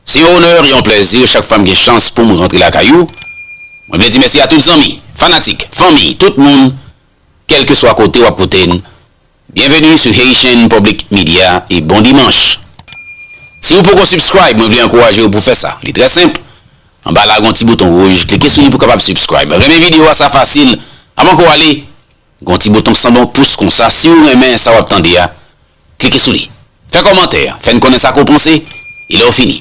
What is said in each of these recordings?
Se yon onè, yon plèzi chak fwa m gen chans poum rantre lakay ou. Mwen vle di mèsi a tout zanmi, fanatik, fanmi, tout moun kèlkeswa kote wap koute n. Bienvenue sur Haitian Public Media e bon dimanch. Siw poko subscribe mwen vle ankourajew pou fè sa. Li trè senp, anba la gon ti bouton wouj, klike sou li pou kapab subscribe. Renmen video a sa fasil, avan ke w ale, gon ti bouton san bon pous konsa siw renmen sa wap tande a, Klike sou li. Fè kòmantè, fè n konnen sa ke w panse, e lè w fini.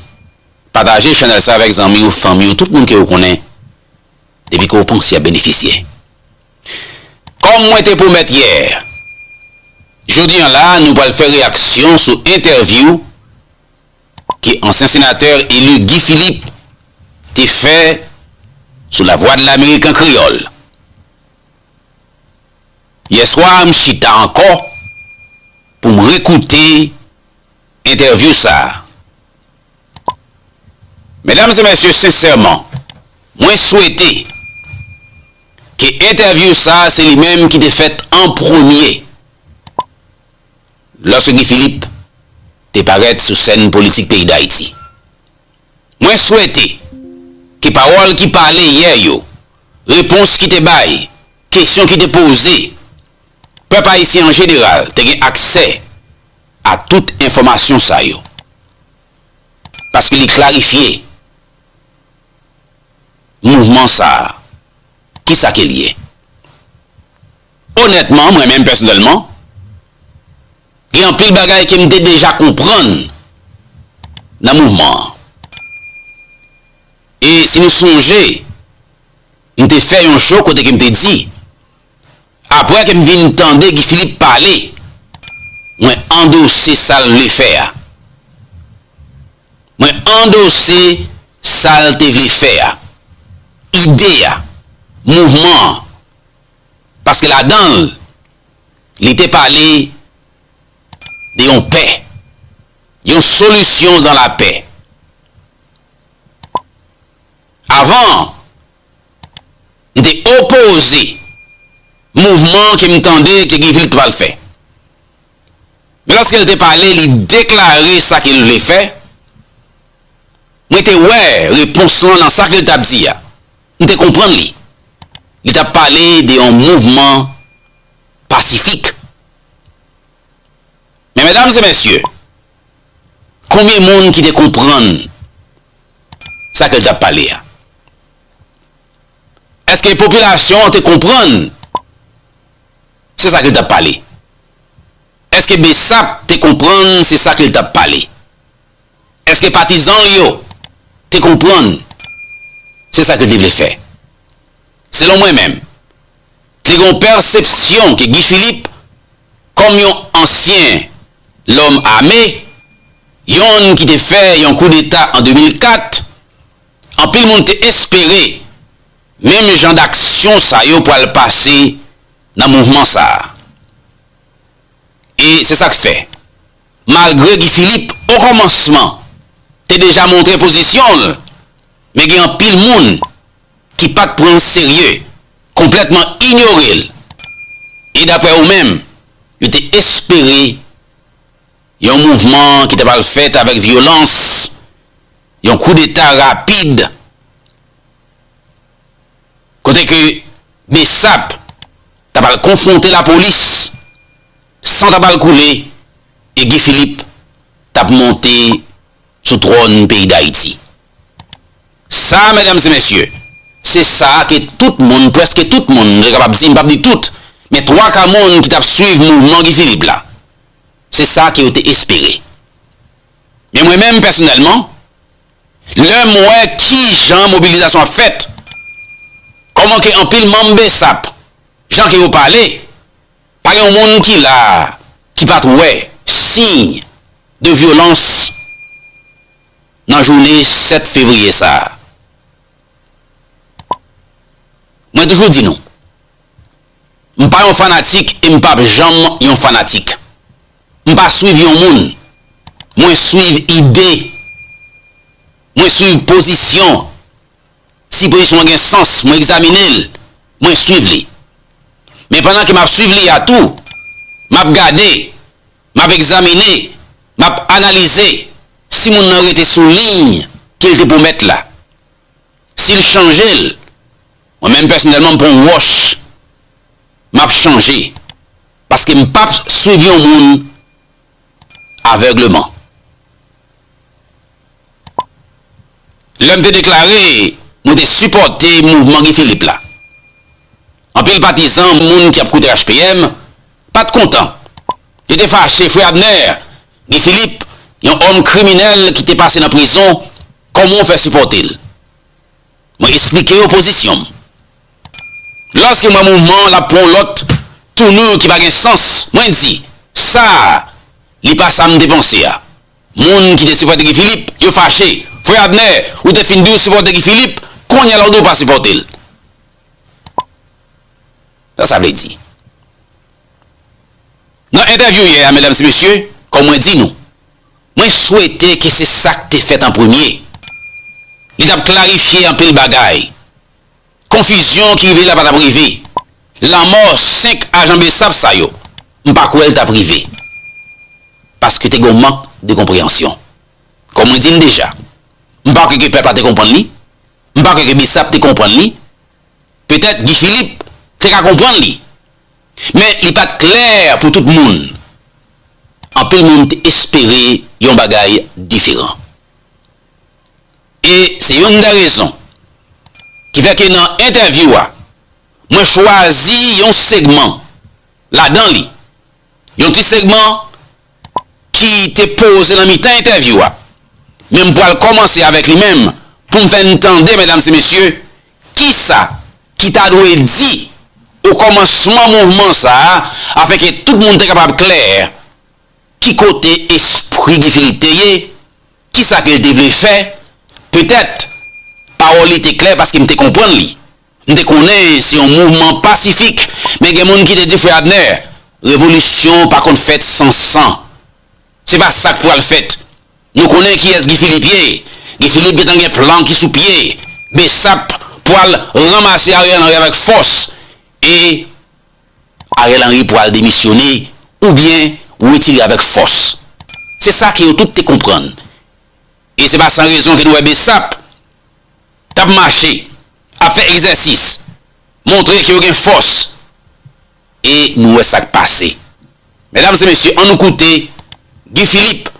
Pataje chanèl sa avèk zanmi w, fanmi w, tout moun ke w konnen depi ke w panse y ap benefisye. Kòm mwen te pwomèt yè, jodi an la nou pral fè reyaksyon sou entèvyou ke ansyen senatè eli Guy Philippe te fè sou Lavwadlamerik an kreyòl. Yèswa a m chita ankò pou m rekoute entèvyou sa a. Medam e mèsye sensèman mwen swete ke entèvyou sa a se li menm ki te fèt an premye lòske Guy Philippe te parèt sou sèn politik peyi Dayiti. Mwen swete ke pawòl ki pale yè yo, repons ki te bay, kesyon ki te poze, pèp ayisyen an jeneral te gen aksè a tout enfòmasyon sa yo. Paske li klarifye mouvman sa a, kisa ke l ye. Onètman, mwen menm pèsonèlman, gen anpil bagay ke m te deja konprann nan mouvman an. E si nou sonje, m te fè yon show kote ke m te di, apre ke m vin tande Guy Philippe pale, mwen andose sa l vle fè a. Mwen andose sa l te vle fè a, ide a, mouvman an. paske ladan l li te pale de yon pè, yon solisyon dan lapè. Avan, m te opoze mouvman ke m tande ke Guy Philippe te pral fè. Men lòske l te pale, li deklare sa ke l vle fè, mwen te wè repons lan nan sa ke l t ap di a. M te konprann li. Li t ap pale de yon mouvman pasifik. Men medam e mesye, konbyen moun ki te konprann sa ke l t ap pale a? Eske popilasyon an te konprann se sa ke l t ap pale? Eske Bsap te konprann se sa ke l t ap pale? Èske patizan l yo te konprann se sa ke l te vle fè? Selon mwen menm, te gen yon pèsepsyon ke Guy Philippe, kòm yon ansyen lòm ame, yonn ki te fè yon koudeta an 2004, anpil moun te espere menm jan daksyon sa yo pwal pase nan mouvman sa a. E se sa k fè. Malgre Guy Philippe o kòmansman te deja montre pozisyon l, men gen anpil moun ki pat pran l serye, konplètman inyore l e daprè yo menm, yo te espere yon mouvman ki ta pral fèt avèk vyolans, yon koudeta rapid kote ke Bsap ta pral konfwonte lapolis San t ap al koule e Guy Philippe t ap monte sou twòn peyi Dayiti. Sa, medam e mesye, se sa ke tout moun, prèske tout moun, mwen kapab di, m p ap di tout, men twaka moun ki t ap swiv mouvman Guy Philippe la, se sa ke yo te espere. Men mwen menm pèsonèlman, lè m wè ki jan mobilizasyon ap fèt, kòman ke anpil manm bsap, jan ke yo pale, Pa gen yon moun ki la a ki pa t wè siy de vyolans nan jounen 7 fevriye sa a. Mwen toujou di nou, m pa yon fanatik e m pap janm yon fanatik. M pa swiv yon moun, mwen swiv ide, mwen swiv pozisyon Si pozisyon an gen sans, mwen egzamine l, mwen suiv li. Men pandan ke m ap suiv li a tou, m ap gade, m ap egzamine, m ap analize si moun nan rete sou liy ke l te pwomèt la. Si l chanje l, mwen menm pèsonèlman m pran yon wòch, m ap chanje. Paske m p ap suiv yon moun. avègleman. Lè m te deklare mwen te sipòte mouvman Guy Philippe la, anpil patizan, moun ki ap koute HPM, pa t kontan. Yo te fache, Frè Abner, Guy Philippe, yon òm kriminèl ki te pase nan prizon, kòman w fè sipòte l? Mwen esplike yo pozisyon m. Lòske m wè mouvman an ap pran yon lòt tounur ki pa gen sans, mwen di, Sa a, li pa sa m te panse a. Moun ki te sipòte Guy Philippe, yo fache. Frè Abner, ou te fin di ou sipòte Guy Philippe, kounye a la ou di ou pa sipòte l. Sa sa vle di? Nan entèvyou yè a, medam e mesye, kòm mwen di nou, Mwen swete ke se sa k te fèt an premye. Li t ap klarifye anpil bagay. Konfizyon ki rive la pa t ap rive. Lanmò 5 ajan bsap sa yo, m pa kwè l t ap rive. Paske te gen yon mank de konpreyansyon. Kòm mwen di n deja, m pa kwè ke pèp la te konprann li, m pa kwè ke bsap te konprann li. Petèt Guy Philippe te ka konprann li, Men, li pa t klè pou tout moun. Anpil moun te espere yon bagay diferan. E se youn nan rezon ki fè ke nan entèvyou a, mwen chwazi yon segman ladan li, yon ti segman, ki te poze nan mitan entèvyou a, men m pral kòmanse avèk li menm pou m fè n tande medam se mesye kisa ki ta dwe di o kòmansman mouvman sa a afin ke tout moun te kapab klè ki kote espri Guy Philippe te ye, kisa ke l te vle fè, petèt pawòl li te klè paske m te konprann li. M te konnen se yon mouvman pasifik, men gen moun ki te di Frè Abner, revolisyon pa konn fèt san san. Se pa sa k pral fèt. Nou konnen kiyès Guy Philippe ye. Guy Philippe gen tan gen plan ki sou pye. Bsap pral ranmase Ariel Henry avèk fòs e Ariel Henry pral demisyone oubyen wetire avèk fòs. Se sa ke yo tout te konprann. E se pa san rezon ke nou wè bsap. k ap mache, ap fè egzèsis, montre ke yo gen fòs e nou wè sa k pase. Medam e mesye, an nou koute Guy Philippe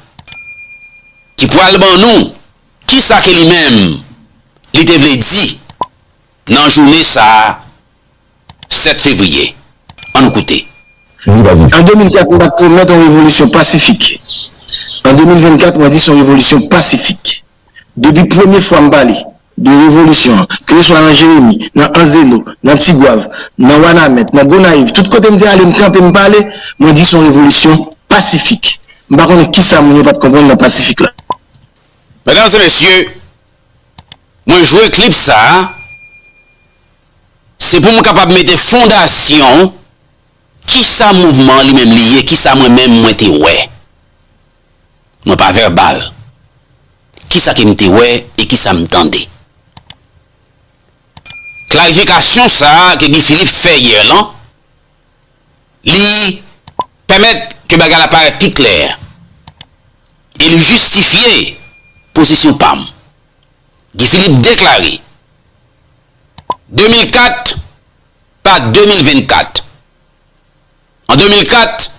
ki pral ban nou kisa ke li menm li te vle di nan joune sa 7 fevriye. An nou koute. An 2004 m pa t pwomèt yon revolisyon pasifik. An 2024 mwen di s on revolisyon pasifik. Depi premye fwa m pale de revolisyon an, keleswa nan Jeremi, nan Anzeno, nan Tigwav, nan Wanament, nan Gonayiv, tout kote m te ale, m kanpe m pale, mwen di se yon revolisyon pasifik. M pa konnen kisa moun yo pa t konprann nan pasifik la. Medam e mesye, mwen jwe klip sa a, se pou m kapab mete fondasyon kisa mouvman an li menm li ye, kisa mwen menm mwen te wè. Mwen pa vèbal. Kisa ke m te wè e kisa m tande? Klarifikasyon sa a ke Guy Philippe fè yè lan, li pèmèt ke bagay la parèt pi klè e li jistifye pozisyon pa m. Guy Philippe deklare, 2004 pa 2024. An 2004.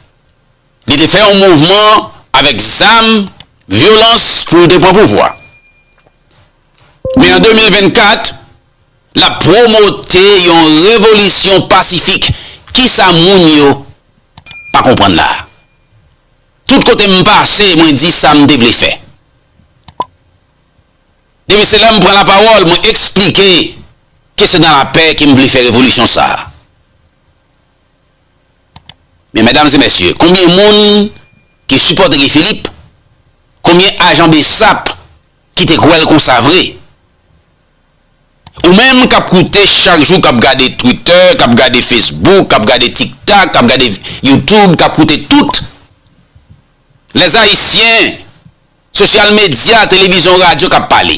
Li te fè yon mouvman avèk zam, vyolans pou l te pran pouvwa. Men an 2024, l ap pwomote yon revolisyon pasifik. Kisa moun yo pa konprann la a? Tout kote m pase, mwen di sa m te vle fè. Depi se lè m pran lapawòl, mwen esplike ke se nan lapè ke m vle fè revolisyon sa a. Men medam e mesye konbyen moun ki sipòte Guy Philippe konbyen ajan besap ki te kwèl konsa vre ou menm kap koute chak jou kap gade twitter kap gade facebook kap gade tiktak kap gade youtube kap koute tout les haïtiens social media televizyon radio kap pale.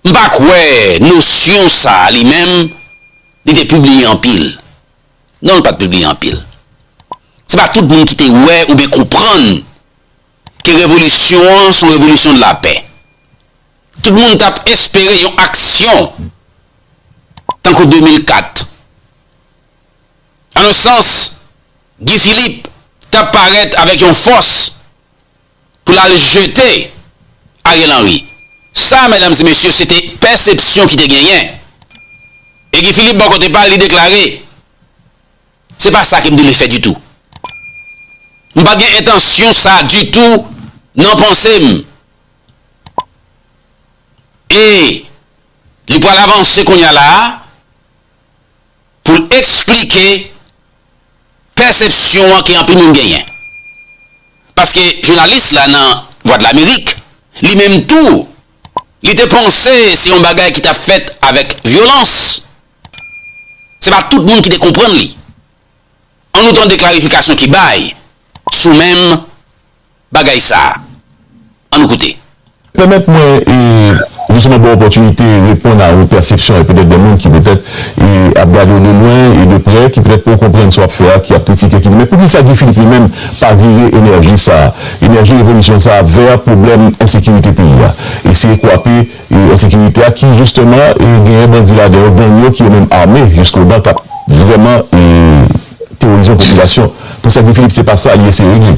M pa kwè nosyon sa a li menm li te pibliye anpil. Non l pa t pibliye anpil. Se pa tout moun ki te wè oubyen konprann ke revolisyon an s on revolisyon de la pè. Tout moun t ap espere yon aksyon tankou 2004. An on sans, Guy Philippe t ap parèt avèk yon fòs pou l al jete Ariel Henry. Sa, medam e mesye, se te pèsepsyon ki te genyen. E Guy Philippe bò kote pa l, li deklare, Se pa sa ke m te vle fè ditou. M pa t gen entansyon sa ditou nan panse m. E li pral avanse kounye a la a. pou l esplike pèsepsyon an ke anpil moun genyen. Paske jounalis la nan Vwadlamerik, li menm tou, li te panse se yon bagay ki t ap fèt avèk vyolans. Se pa tout moun ki te konprann li. An nou tande klarifikasyon ki bay sou menm bagay sa a? An nou koute. Pèmèt mwen jisteman ba w opòtinite reponn a yon pèsepsyon e petèt de moun ki petèt ap gade w de lwen e de prè, ki petèt poko konprann sa w ap fè a, ki ap kritike, ki di men poukisa Guy Philippe li menm pa vire enèji sa a, enèji revolisyon sa a vè pwoblèm ensekirite peyi a? Eseye kwape ensekirite a ki jisteman genyen bandi ladan yo, gang yo ki yo menm ame jisko dan k ap vrèman teworize yon popilasyon. Poukisa Guy Philippe se pa sa li eseye regle?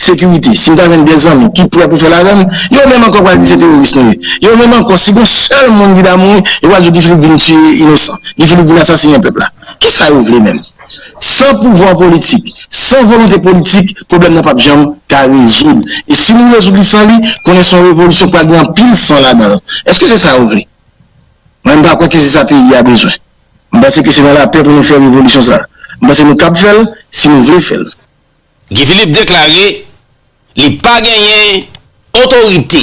Sekirite, si m ta jwenn 2 zanmi ki prè pou fè l avè m, yo menm ankò pral di se teworis nou ye. Yo menm ankò, si gon sèl moun ki ta mouri, yo pral di Guy Philippe vin tiye inosan, Guy Philippe vin asasinen pèp la. Ki sa yo vle menm? San pouvwa politik, san volonte politik, pwoblèm nan p ap janm ka rezoud. E si nou rezoud li san li, konnen se yon revolisyon k pral gen anpil san ladan l. Èske se sa yo vle? Mwen m pa kwè ke se sa peyi a bezwen. M panse ke se nan lapè pou nou fè revolisyon sa a. M panse nou kab fè l, si nou vle fè l. Guy Philippe deklare li pa genyen otorite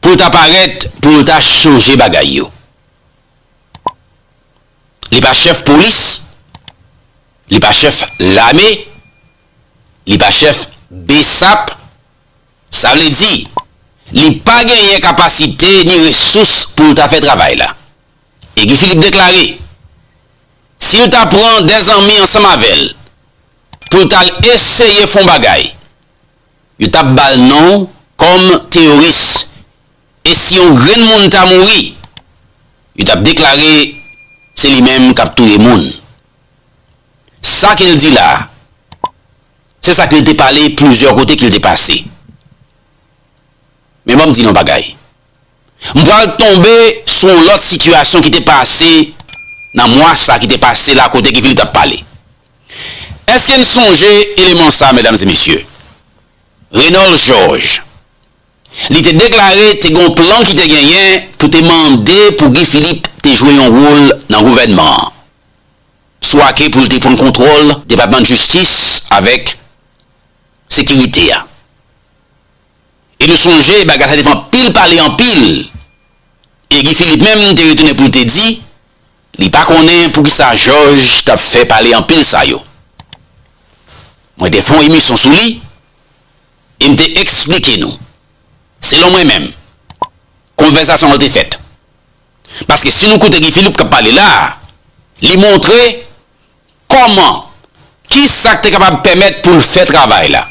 pou l ta parèt pou l ta chanje bagay yo. Li pa chèf polis, li pa chèf lame, li pa chèf bsap, sa vle di li pa genyen kapasite ni resous pou l ta fè travay la. E Guy Philippe deklare. Si l ta pran de zanmi ansanm avè l pou l t al eseye fè yon bagay, yo t ap ba l non kòm teyoris. E si yon grenn moun ta mouri, yo t ap deklare se li menm k ap touye moun. Sa ke l di la a, se sa ke l te pale plizyè kote ke l te pase. Men ban m di nou yon bagay. M pral tonbe sou yon lòt sitiyasyon ki te pase nan mwa sa ki te pase la kote Guy Philippe t ap pale. Èske n sonje eleman sa medam e mesye? Renòl Jòj. Li te deklare te gen yon plan ki te genyen pou te mande pou Guy Philippe te jwe yon wol nan gouvènman an. Swa ke pou l te pran kontwòl depatman jistis avèk sekirite a. E nou sonje bagay sa te fè anpil pale anpil e Guy Philippe menm te retounen pou l te di li pa konnen poukisa Jòj t ap fè pale anpil sa yo. Mwen te fè yon emisyon sou li e m te esplike nou, selon mwen menm, konvèsasyon an te fèt. Paske si nou koute Guy Philippe k ap pale la a, li montre Kòman? Ki sa k te kapab pèmèt pou l fè travay la?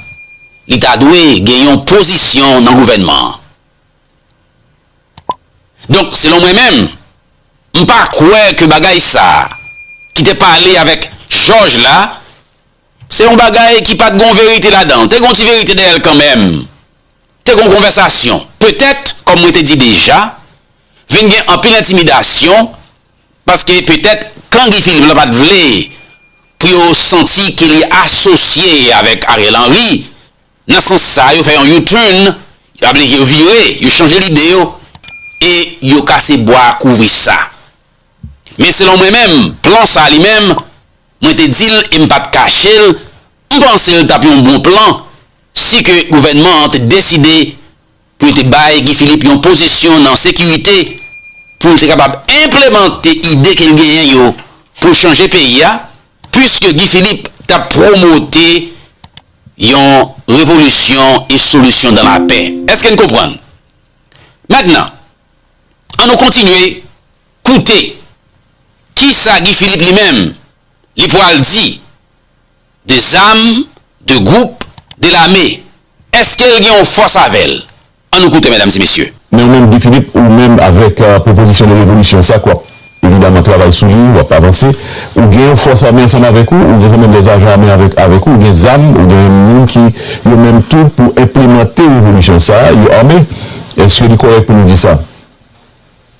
Li ta dwe gen yon pozisyon nan gouvènman an. Donk, selon mwen menm, m pa kwè ke bagay sa a ki te pale avèk Jòj la, se yon bagay ki pa t gon verite ladan l. Te gon ti verite dèyè l kanmenm. Te gon konvèsasyon. Petèt, kòm mwen te di deja, vin gen anpil entimidasyon. Paske petèt kan Guy Philippe lan pat vle pou yo santi ke li asosye avèk Ariel Henry, nan sans sa yo fè yon U-turn, yo ablije yo vire, yo chanje lide yo e yo kase bwa kouvri sa. Men selon mwen menm, plan sa li menm, mwen te di l e m pat kache l, m panse l tap yon bon plan si ke gouvènman an te deside pou yo te bay Guy Philippe yon pozisyon nan sekirite pou l te kapab enplemante ide ke l genyen yo pou chanje peyi a, puiske Guy Philippe t ap pwomote yon revolisyon e solisyon dan lapè. Eske n konprann? Mentnan, an nou kontinye koute kisa Guy Philippe li menm li pwal di. De zam, de gwoup, de lame. Eske l gen yon fòs avè l? An nou koute, medam e mesye. Men ou menm Guy Philippe, ou menm avèk pwopozisyon de revolisyon sa k w ap evidaman travay sou li, w ap avanse, ou gen yon fòs ame ansanm avèk ou, ou gen kòmèn de zajan ame avèk avèk ou, ou gen zam, ou gen moun ki yo menm tou pou enplemante revolisyon sa a, yo ame. Eske li kòrèk pou nou di sa?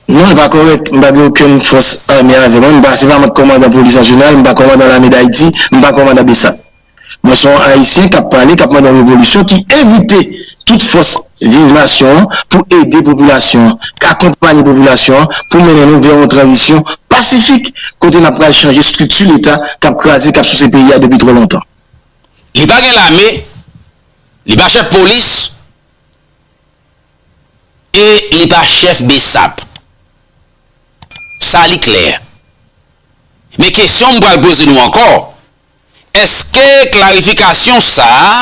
Non li pa kòrèk, m pa gen okenn fòs ame avè mwen, m pa se pa mwen k kòmandan polis an jeneral, m pa kòmandan lame dayiti, m pa kòmandan bsap. Mwen se yon ayisyen k ap pale, k ap mande yon revolisyon ki envite tout fòs viv nasyon an pou ede popilasyon an, akonpanye popilasyon an pou mennen nou vè yon tranzisyon pasifik kote n ap pral chanje estrikti leta k ap kraze, k ap souse peyi a depi twò lontan. Li pa gen lame, li pa chèf polis. E li pa chèf bsap. Sa li klè. Men kesyon m pral poze nou ankò, èske klarifikasyon sa a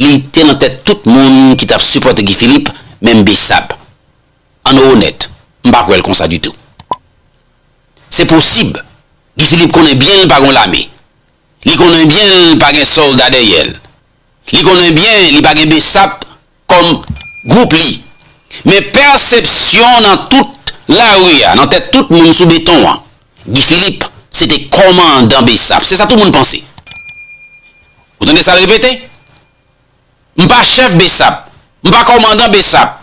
li te nan tèt tout moun ki t ap sipòte Guy Philippe, menm bsap? An nou onèt, m pa kwè l konsa ditou. Se posib Guy Philippe konnen byen l pa gen yon lame, Li konnen byen l pa gen sòlda dèyè l. Li konnen byen li pa gen bsap kòm gwoup li. Men pèsepsyon nan tout lari a, nan tèt tout moun sou beton an, Guy Philippe se te kòmandan bsap. Se sa tout moun panse. Ou tande sa l repete? M pa chèf bsap. M pa kòmandan bsap.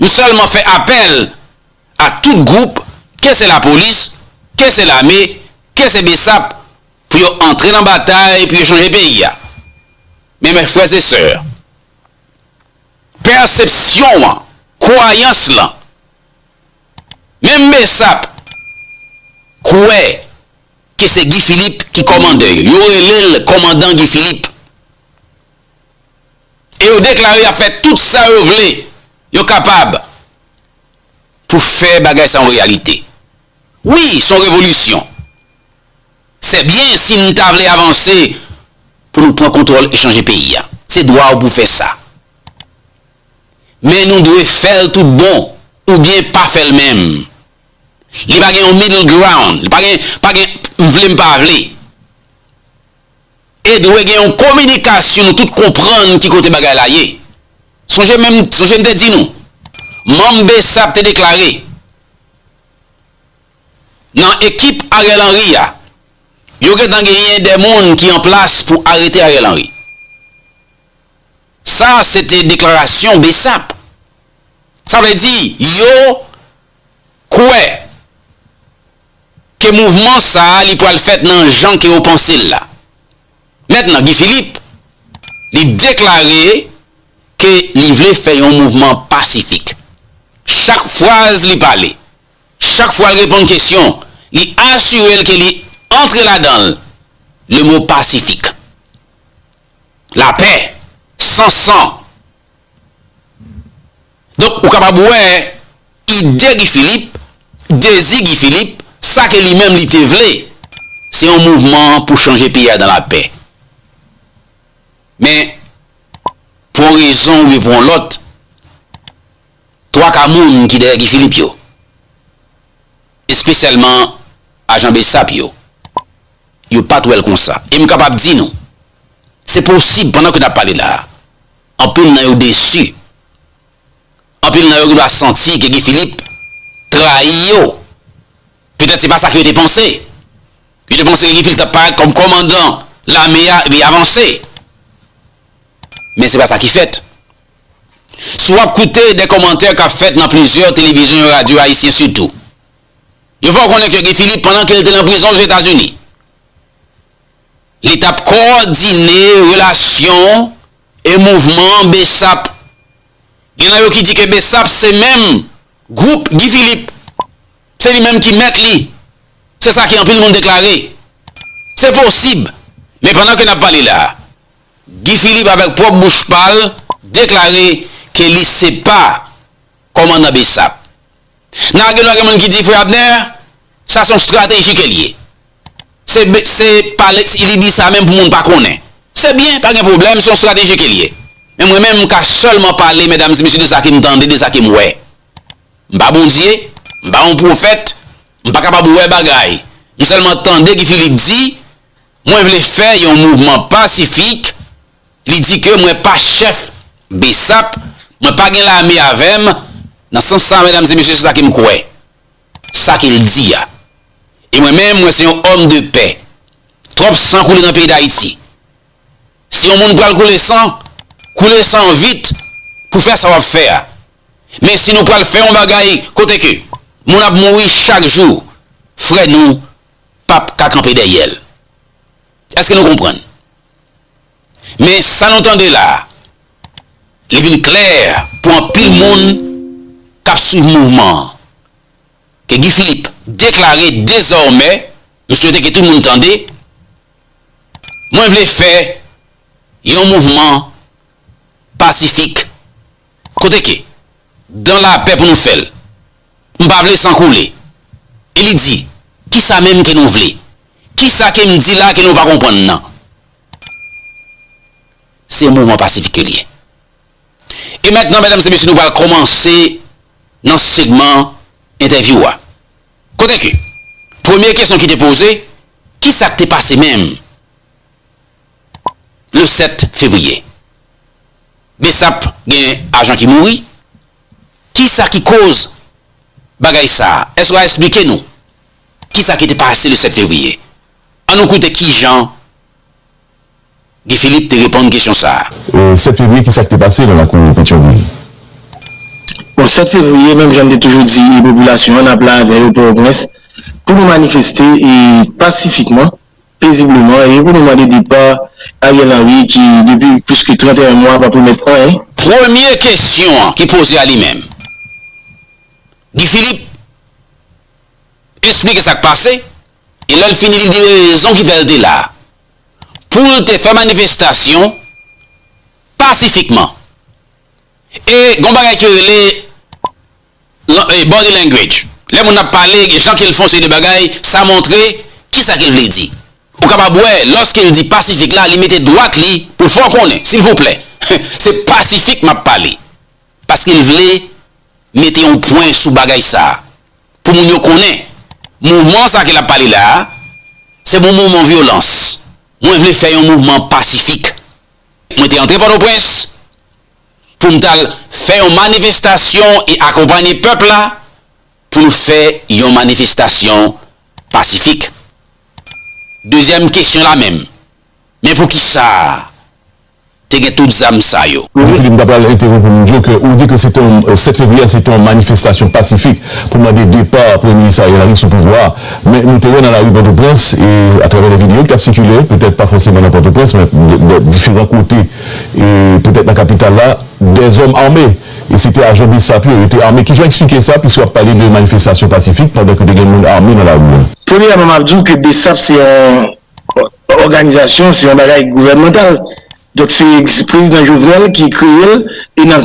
M sèlman fè apèl a tout gwoup, ke se lapolis, ke se lame, ke se bsap, pou yo antre nan batay pou yo chanje peyi a. Men mè frè e sè, pèsepsyon an, kwayans lan, menm bsap kwè ke se Guy Philippe ki kòmandè yo. Yo rele l kòmandan Guy Philippe. e yo deklare y ap fè tout sa yo vle, yo kapab pou fè bagay sa yon reyalite. Wi, s on revolisyon. Sè byen si n ta vle avanse pou nou pran kontwòl e chanje peyi a. Se dwa w pou fè sa. Men nou dwe fè l tout bon oubyen pa fè l menm. Li pa gen yon middle ground. Li pa gen, pa gen m vle m pa vle. E dwe gen yon kominikasyon nou tout konprann ki kote bagay la ye. Sonje menm, sonje m te di nou, manm bsap te deklare, nan ekip Ariel Henry a, yo gentan genyen de moun ki an plas pou arete Ariel Henry. Sa se te deklarasyon bsap. Sa vle di, yo kwè. ke mouvman sa a li pral fèt nan jan ke yo panse l la. Mentnan Guy Philippe li deklare ke li vle fè yon mouvman pasifik. Chak fraz li pale, chak fwa l reponn kesyon, li asire l ke li antre ladan l le mo pasifik. Lapè, san san. Donk ou kapab wè ide Guy Philippe, dezi Guy Philippe, sa ke li menm li te vle, se yon mouvman pou chanje peyi a dan la pè. Men, pou yon rezon oubyen pou yon lòt, twaka moun ki dèyè Guy Philippe yo, espesyalman ajan bsap yo, yo pat wè l konsa. E m kapab di nou, se posib pandan ke n ap pale la a, Anpil nan yo desi. Anpil nan yo gendwa santi ke Guy Philippe trayi yo. Petèt se pa sa ke yo te panse. Yo te panse ke Guy Philippe t ap parèt kòm kòmandan lame a epi avanse. Men se pa sa ki fèt. Si w ap koute de kòmantè k ap fèt nan plizyè televizyon e radyo ayisyen sitou, yo fè w konnen ke Guy Philippe pandan ke l te nan prizon Ozetazini, Li t ap kowòdine relasyon e mouvman bsap. Gen nan yo ki di ke bsap se menm gwoup Guy Philippe. Se li menm ki mèt li. Se sa ke anpil moun deklare. Se posib. Men pandan ke n ap pale la, Guy Philippe avèk pwòp bouch pa l deklare ke li se pa kòmandan bsap. Nan agiman gen moun ki di frè Abner sa son strateji kel ye se se pa lex li di sa menm pou moun pa konnen se byen pa gen pwoblèm son strateji kel ye men mwen menm m ka sèlman pale medam e mesye de sa kem tande de sa kem wè m pa Bondye m pa yon pwofèt m pa kapab wè bagay m sèlman tande Guy Philippe di mwen vle fè yon mouvman pasifik Li di ke mwen pa chèf bsap, mwen pa gen lame avè m, nan sans sa medam e mesye se sa ke m kwè, sa ke l di a. E mwen menm mwen se yon òm de pè. Twòp san koule nan peyi Dayiti. Si yon moun pral koule san, koule san an vit pou fè sa w ap fè a. Men si nou pral fè yon bagay kote ke moun ap mouri chak jou, frè nou pap ka kanpe dèyè l. Eske nou konprann? Men sa nou tande la a, li vin klè pou anpil moun k ap swiv mouvman an, ke Guy Philippe deklare dezòmè, m swete ke tout moun tande, Mwen vle fè yon mouvman pasifik Kote ke? Dan lapè pou nou fè l. M pa vle san koule. E li di, Ki sa menm ke nou vle? Ki sa ke m di la ke nou pa konprann nan? Se yon mouvman pasifik ke l ye. E mètnan, mèdam e mesye, nou pral kòmanse nan segman entèvyou a. Kote ke? Premye kesyon ki te poze, Ki sa k te pase menm? le 7 fevriye. Bsap gen ajan ki mouri, kisa ki koz bagay sa, èske w a esplike nou kisa ki te pase le 7 fevriye? An nou koute kijan Guy Philippe te reponn kesyon sa. 7 fevriye kisa ki te pase nan lakou Petyonvil? Bon 7 fevriye menm jan m te toujou di popilasyon an n ap la avè yo Pòtoprens pou nou manifeste pasifikman. Pezibleman, e yo pou nou mande depa Ariel Henry ki depi plis ke 31 mwa pa pwomèt anyen. Premye kesyon an ki poze a li menm. Guy Philippe esplike sa k pase e lè l fini li di rezon ki fè l te la. Pou l te fè manifestasyon pasifikman. E gen yon bagay ki rele Body language, lè moun ap pale, jan ke l fè yon seri de bagay, sa montre ki sa ke l vle di. Ou kapab wè, lòske l di pasifik la, li mete dwat li pou l fè w konnen, silvouplè, se pasifik m ap pale. Paske l vle mete yon pwen sou bagay sa a, pou moun yo konnen, mouvman sa a ke l ap pale la a, se pa yon mouvman vyolans. Mwen vle fè yon mouvman pasifik. Mwen te antre Pòtoprens, pou m t al fè yon manifestasyon e akonpanye pèp la pou nou fè yon manifestasyon pasifik. Dezyèm kesyon la menm, men pou ki sa te gen tout zam sa yo? Ou di, m ta pral entèwonp ou m di w ke ou di ke se te yon 7 fevriye a se te yon manifestasyon pasifik pou mande depa Premye Minis Ariel Henry sou pouvwa a. Men nou te wè nan lari Pòtoprens e atravè lè videyo ki t ap sikile, petèt pa fòseman nan Pòtoprens men diferan kote, e poutèt nan kapital la dè zòm ame e se te ajan bsap yo, yo te ame, kijan w eksplike sa piske w ap pale de manifestasyon pasifik pandan ke te gen moun ame nan lari a? Premyèman m ap di w ke bsap se yon òganizasyon, se yon bagay gouvènmantal, donk se prezidan Jovenel ki kreye l e nan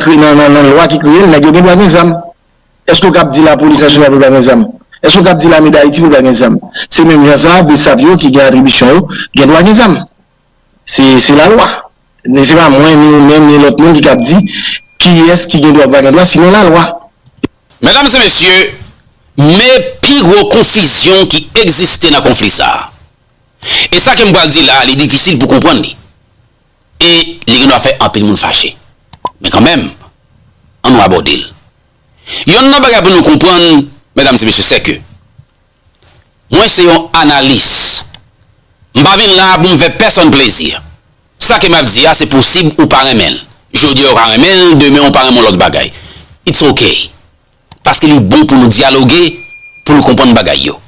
lwa ki kreye l nèg yo gen dwa gen zam, èske w kab di lapolis nasyonal pou l pa gen zam? Èske w kab di lame dayiti pou l pa gen zam? Se menm jan sa bsap yo ki gen atribisyon yo gen dwa gen zam. Se lalwa. Ni se pa mwen, ni ou menm, ni lòt moun ki kab di kiyès ki gen dwa ak pa gen dwa, sinon lalwa. Medam e mesye, me pi gwo konfizyon ki egziste nan konfli sa a. E sa ke m pral di la a, li difisil pou konprann li. E li gen dwa fè anpil moun fache. Men kanmenm, an nou abòde l. Yonn nan bagay pou nou konprann, medam e mesye, sè ke Mwen se yon analis. M pa vin la a pou m fè pèsonn plezi. Sa ke m ap di a se posib ou pa renmen l. Jodi a ou ka renmen l, demen ou pa renmen yon lòt bagay. It's ok. Paske li bon pou nou dyaloge, pou nou konprann bagay yo.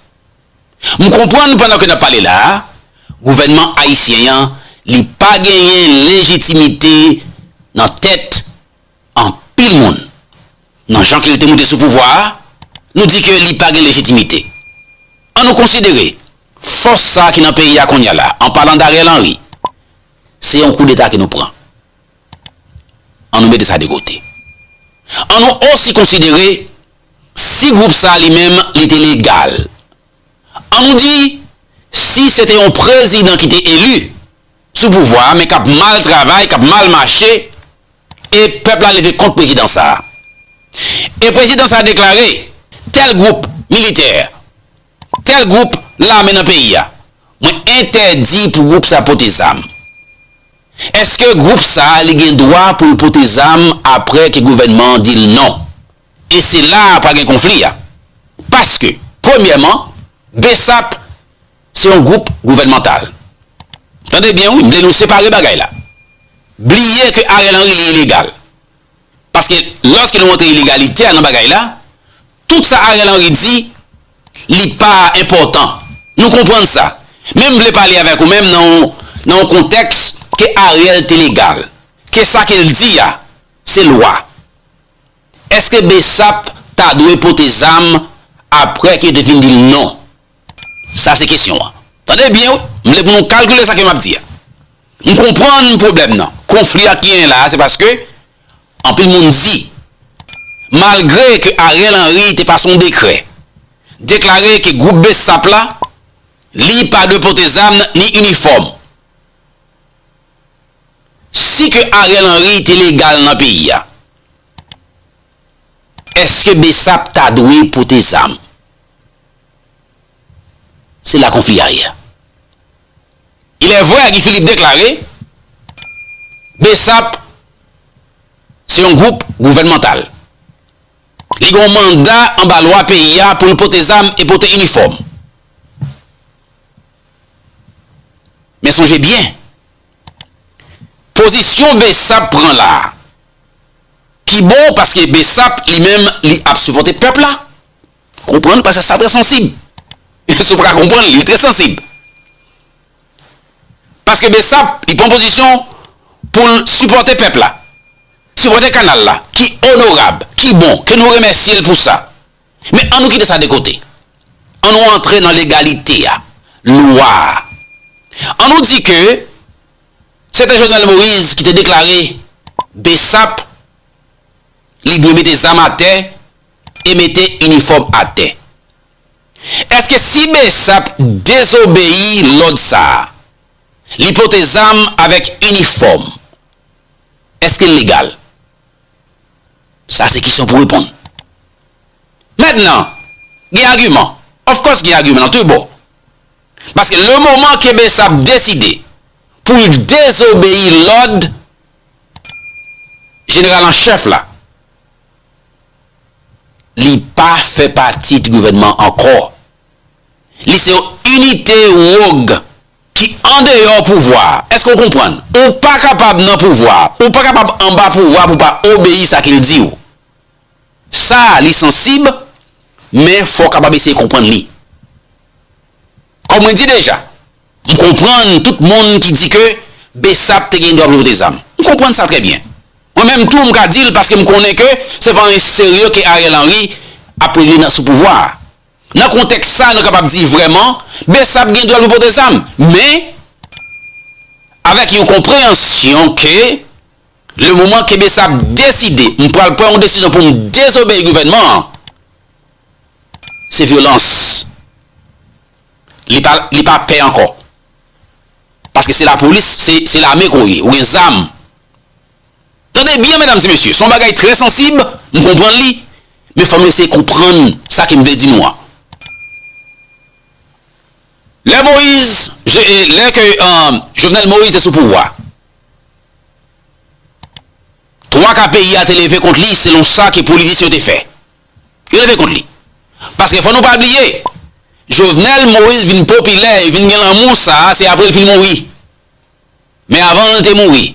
M konprann pandan ke n ap pale la a, gouvènman ayisyen an li pa genyen lejitimite nan tèt. anpil moun nan jan ke li te moute sou pouvwa a, nou di ke li pa gen lejitimite. An nou konsidere, fòs sa ki nan peyi a kounye a la, an palan d'Ariel Henry, se yon koudeta ke nou pran. An nou mete sa de kote. An nou osi konsidere, si gwoup sa li menm li te legal. An nou di, si se te yon prezidan ki te eli, sou pouvwa a men kap mal travay kap mal mache e pèp la leve kont prezidan sa a e prezidan sa a deklare tèl gwoup militè tèl gwoup lame nan peyi a mwen entèdi pou gwoup sa pote zam eske gwoup sa a li gen dwa pou l pote zam aprè ke gouvènman an di l non e se la a pral gen konfli a paske premyèman bsap Se yon gwoup gouvènmantal. Tande byen wi, m vle nou separe bagay la. Bliye ke Ariel Henry li ilegal. Paske lòske nou rantre ilegaliter nan bagay la, tout sa Ariel Henry di, li pa enpòtan. Nou konprann sa. Men m vle pale avèk ou menm nan yon nan yon kontèks ke Ariel te legal. Ke sa ke l di a, se lwa. Eske bsap ta dwe pote zam apre ke te fin di l non? Sa se kesyon an. Tande byen wi, m vle pou nou kalkile sa ke m ap di a. M konprann pwoblèm nan, konfli a ki genyen la a se paske anpil moun di malgre ke Ariel Henry te pase yon dekrè deklare ke gwoup bsap la li pa dwe pote zam ni inifòm. Si ke Ariel Henry te legal nan peyi a, èske bsap ta dwe pote zam? Se la konfli a ye a. Ilèvre Guy Philippe deklare Bsap se yon gwoup gouvènmantal. Li gen yon manda anba lwa peyi a pou l pote zam e pote inifòm. Men sonje byen, pozisyon Bsap pran la a pi bon paske Bsap li menm li ap sipòte pèp la. Konprann pasaj sa trè sansib. Si w paka konprann li, li trè sansib. Paske Bsap li pran pozisyon pou l sipòte pèp la, sipòte kanal la ki onorab, ki bon, ke nou remèsye l pou sa. Men an nou kite sa de kote. An nou antre nan legalite a, lwa a. An nou di ke se te Jovenel Moïse ki te deklare Bsap li dwe mete zam atè. e mete inifòm atè. Eske si bsap dezobeyi lòd sa a, li pote zam avèk inifòm, eske l legal? Sa se kesyon pou reponn. Mentnan, gen agiman, of course gen agiman nan tou bò. Paske le moman ke bsap deside pou l dezobeyi lòd jeneral an chèf la, Li pa fè pati t gouvènman ankò. Li se yon inite wog ki andeyò pouvwa a. Èske ou konprann? Ou pa kapab nan pouvwa a. Ou pa kapab anba pouvwa a pou w pa obeyi sa ke l di ou. Sa a li sansib, men fò w kapab eseye konprann li. Kòm mwen di deja. M konprann tout moun ki di ke Bsap te gen dwa pou l pote zam. M konprann sa trè byen. Mwen menm tou m ka di l paske m konnen ke se pa anyen serye ke Ariel Henry ap regle nan sou pouvwa a. Nan kontèks sa nou kapab di vrèman Bsap gen dwa l pou pote zam. Men, avèk yon konpreyansyon ke le moman ke Bsap deside m pral pran yon desizyon pou m dezobeyi gouvènman an, se vyolans. Li pa li pa pè ankò. Paske se lapolis, se se lame ke w ye. Ou gen zam. Tande byen medam e mesye, se yon bagay trè sansib, m konprann li, men fò nou eseye konprann sa ke m vle di nou an. Lè Moyiz, je e, lè ke Jovenel Moyiz te sou pouvwa, twa ka peyi a te leve kont li selon sa ke politisyen yo te fè. Yo leve kont li. Paske fò nou pa bliye, Jovenel Moïse vin popilè, e vin gen lanmou sa a, se apre l fin mouri. Men avan l te mouri,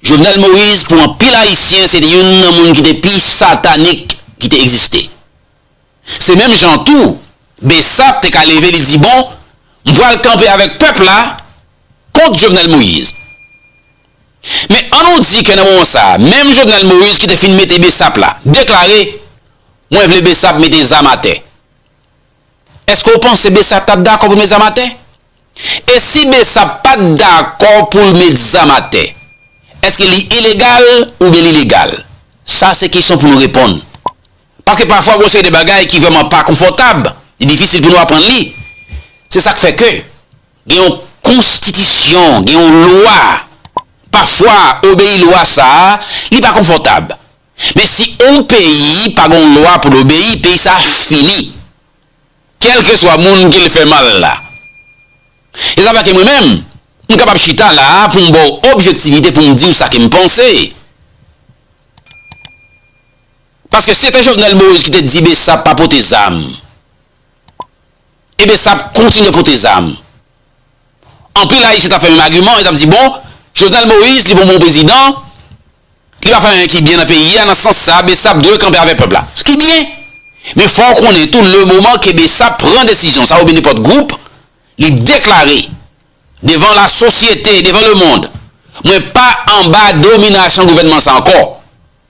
Jovenel Moïse pou anpil Ayisyen se te youn nan moun ki te pi satanik ki te egziste. Se menm jan tou, Bsap te ka leve li di bon, m pral kanpe avèk pèp la kont Jovenel Moïse. Men an nou di ke nan moman sa a, menm Jovenel Moïse ki te fin mete Bsap la, deklare, Mwen vle Bsap mete zam atè. Eske ou panse Bsap tap dakò pou l met zam atè? E si Bsap pat dakò pou l met zam atè, eske li ilegal oubyen li legal? Sa se kesyon pou nou reponn. Paske pafwa gen yon seri de bagay ki vrèman pa konfòtab, li difisil pou nou aprann li. Se sak fè ke. Gen yon konstitisyon, gen yon lwa. Pafwa obeyi lwa sa a, li pa konfòtab. Men si yon peyi pa gen yon lwa pou l obeyi, peyi sa a fini. Kèlkeswa moun ke l fè mal la. E sa fè ke mwen menm, m kapab chita la a pou m ba w objektivite pou m di w sa ke m panse. Paske se te Jovenel Moïse ki te di Bsap pa pote zam. Ebesap kontinye pote zam. Anpil Ayisyen tap fè menm agiman an, yo tap di bon, Jovenel Moïse li pa yon bon prezidan, li pa fè anyen ki byen nan peyi a, nan sans sa Besap dwe kanpe avèk pèp la. S ki byen. Men fò w konnen tou le moman ke Besap pran desizyon sa oubyen nenpòt gwoup, li deklare devan la sosyete, devan le mond, mwen pa anba dominasyon gouvènman sa ankò.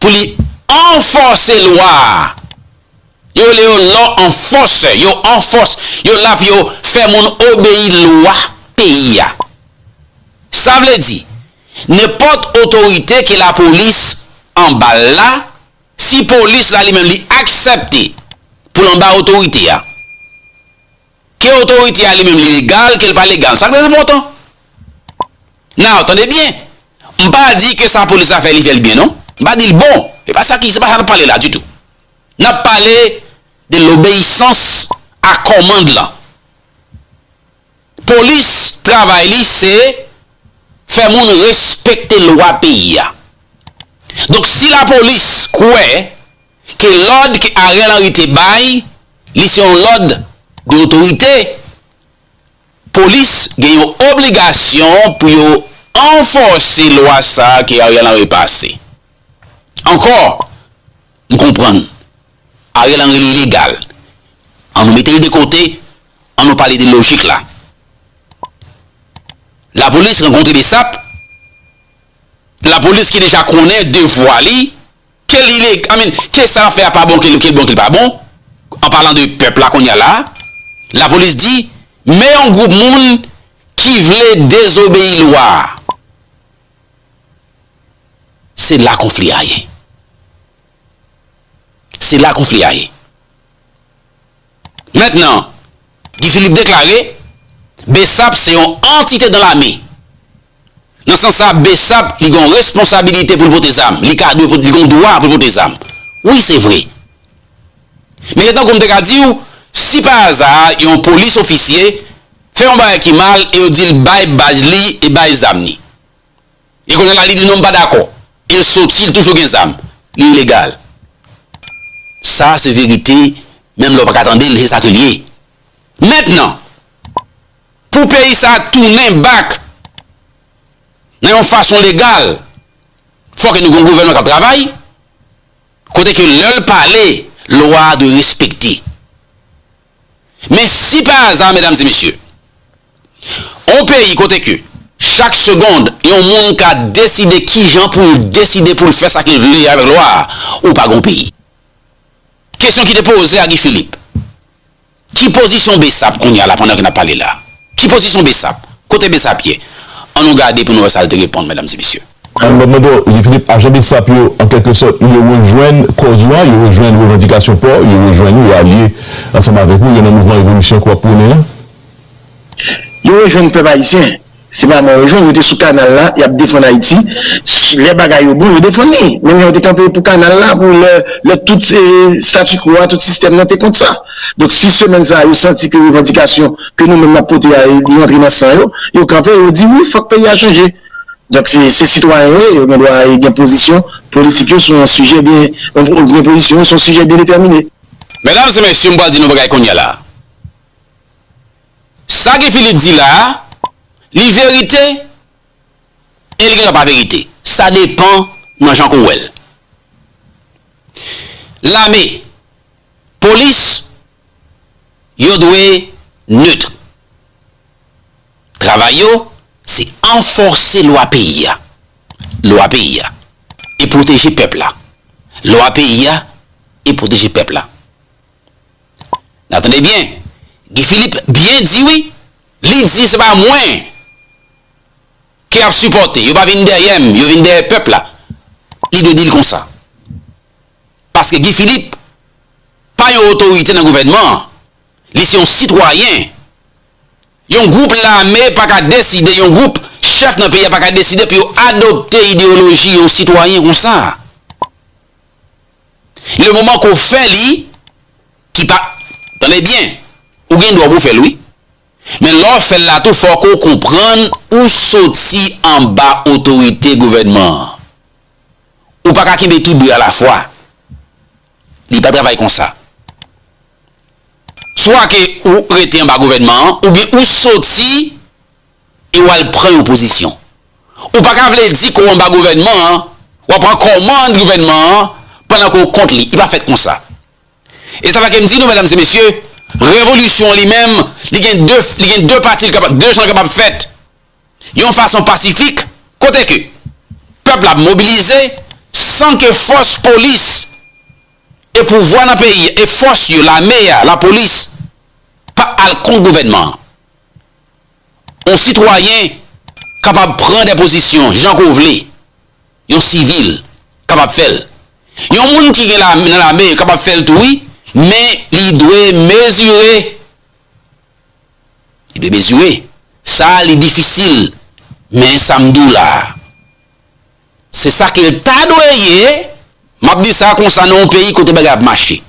pou li anfòse lwa a. Yo rele yo law enforcer, yo anfòse, yo la pou yo fè moun obeyi lwa peyi a. Sa vle di, nenpòt otorite ke lapolis anba l la, si polis la li menm li aksepte pou l anba otorite a, Ke otorite a li menm li legal, ke l pa legal. Sa k te enpòtan. Now, tande byen. M pa di ke sa polis la fè li fè l byen non. M pa di l bon. Se pa sa ki, se pa sa n ap pale la ditou. N ap pale de lobeyisans a kòmand lan. Polis, travay li se fè moun respekte lwa peyi a. Donk si lapolis kwè. ke lòd ke Ariel Henry te bay li se yon lòd de otorite, polis gen yon obligasyon pou yo anfòse lwa sa ke Ariel Henry pase. Ankò, m konprann, Ariel Henry legal, an nou mete l de kote, an nou pale de lojik la. Lapolis rankontre Bsap, lapolis ki deja konnen devwa li, Ke l ileg, I mean, ke sa l ap fè a pa bon, ke l bon ke l pa bon, an palan de pèp la kounye a la a, lapolis di, men yon gwoup moun ki vle dezobeyi lwa a. Se la konfli a ye. Se la konfli a ye. Mentnan, Guy Philippe deklare, Bsap se yon antite dan lame. Nan sans sa, Bsap li gen yon responsabilite pou l pote zam, li ka dwe pote, li gen yon dwa pou l pote zam. Wi se vre. Men se tankou m te ka di w, si pa aza yon polis ofisye fè yon bagay ki mal e yo di l bay badj li e bay zam li. E kounye la li di non m pa dakò e l soti l toujou gen zam li ilegal sa se verite menm lè w pa ka tande l se sa ke l ye mentnan pou peyi sa tounen bak nan yon fason legal fò ke nou gen yon gouvènman k ap travay kote ke lè l pale lwa dwe respekte. Men si pa aza medam e mesye, on peyi kote ke chak segond yon moun ka deside kijan pou l deside pou l fè sa ke l vle avèk lwa a, ou pa gon peyi. Kesyon ki te poze a Guy Philippe, ki pozisyon Bsap kounye a la pandan ke n ap pale la? Ki pozisyon Bsap? Kote Bsap ye? An nou gade pou nou wè sa l te reponn medam e mesye. Alò mwen bon, Guy Philippe, ajan bsap yo an kèlke sòt yo rejwenn kòz ou an, yo rejwenn revandikasyon pa w, yo rejwenn ou, yo alye ansanm avèk ou, yo nan mouvman revolisyon ke w ap pwonnen an? Yo rejwenn pèp ayisyen, se pa mwen yo rejwenn, yo te sou kanal la, y ap defann Ayiti, lè bagay yo bon yo defann li, menm jan yo te kanpe pou kanal la, pou lè tout statu quo a, tout sistèm nan te kont sa. Donk si semèn sa a yo santi ke revandikasyon ke nou menm n ap pote a li antre nan san yo, yo kanpe yo di wi fòk peyi a chanje. Donk se sitwayen yo ye, yo gen dwa gen pozisyon politik yo sou yon sijè byen, gen pozisyon yo sou yon sijè byen detèmine. Medam e mesye m pral di nou yon bagay kounya la. Sa Guy Philippe di la a, li verite e li gen dwa pa verite. Sa depan nan jan kou wè l. Lame, polis. yo dwe neutre. Travay yo se anfòse lwa peyi a, lwa peyi a, e pwoteje pèp la, lwa peyi a, e pwoteje pèp la. Nan tande byen, Guy Philippe byen di wi, li di se pa mwen ke yap sipòte, yo pa vin dèyè m, yo vin dèyè pèp la, li dwe di l konsa. Paske Guy Philippe pa yon otorite nan gouvènman an, li se yon sitwayen. Yon gwoup lame pa ka deside, yon gwoup chèf nan peyi a pa ka deside pou yo adopte ideyoloji yon sitwayen konsa. Le moman ke w fè li, ki pa, tande byen, ou gen dwa pou w fè l wi, men lè w fè l la tou fò ke w konprann ou soti anba otorite gouvènman an. Ou pa ka kenbe tou de alafwa. Li pa travay konsa. Swa ke ou rete anba gouvènman an oubyen ou soti e w al pran yon pozisyon. Ou pa ka vle di ke w anba gouvènman an, w ap pran kòmand gouvènman an pandan ke w kont li. Li pa fèt konsa. E sa fè ke m di nou, medam e mesye, revolisyon li menm, li gen de, li gen de pati li kapab, de jan li kapab fèt. yon fason pasifik kote ke pèp la ap mobilize san ke fòs polis e pouvwa nan peyi e fòs yo lame a, lapolis pa al kont gouvènman an. Yon sitwayen kapab pran de pozisyon jan ke w vle, yon sivil kapab fè l, yon moun ki gen lame nan lame kapab fè l tou wi men li dwe mezire. Li demezire. Sa li difisil men sa m di w la a se sa ke l ta dwe ye. M ap di sa konsa nan yon peyi kote bagay ap mache.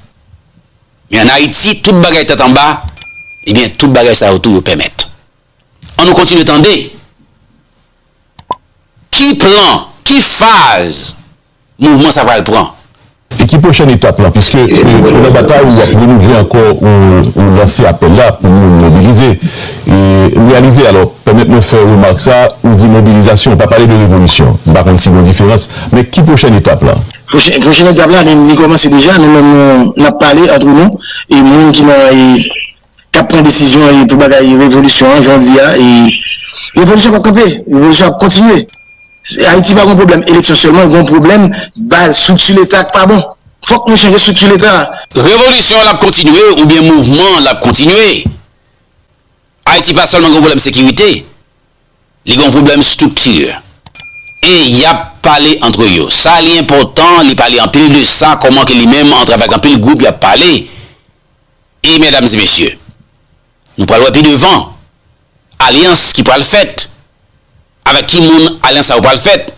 Men an Ayiti tout bagay tèt anba ebyen tout bagay sa yo tou yo pèmèt. An nou kontinye tande ki plan, ki faz. mouvman sa pral pran. E ki pwochèn etap lan? Piske pandan batay ou ap renouvle ankò ou lanse apèl la pou moun mobilize e reyalize. Alò, pèmèt mwen fè remak sa, ou di mobilizasyon, ou pa pale de revolisyon. M pa konn si gen diferans. Men ki pwochèn etap la? Pwochèn etap la li kòmanse deja. Nou menm nou, n ap pale antre nou e moun ki nan kap pran desizyon e pou bagay revolisyon an jodi a e revolisyon pap kanpe revolisyon ap kontinye ayiti pa gon pwoblèm eleksyon sèlman li gon pwoblèm baz estrikti leta ki pa bon fòk nou chanje estrikti leta a. Revolisyon an ap kontinye oubyen mouvman an ap kontinye ayiti pa sèlman gon pwoblèm sekirite li gon pwoblèm estrikti e yap pale antre yo sa li enpòtan li pale anpil de sa kòman ke li menm antre avèk anpil gwoup yap pale E medam e mesye, nou pral wè pi devan alyans ki pral fèt, avèk ki moun alyans sa yo pral fèt,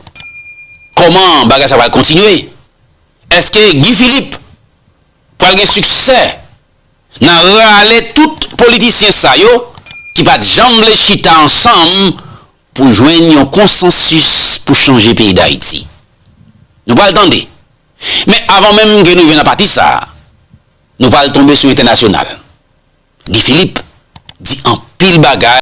kòman bagay sa pral kontinye, èske Guy Philippe pral gen siksè nan rale tout politisyen sa yo ki pat janm vle chita ansanm pou jwenn yon konsansis pou chanje peyi Dayiti. Nou pral tande. Men avan menm ke nou rive nan pati sa, Nou pral tonbe sou entènasyonal. Guy Philippe di anpil bagay.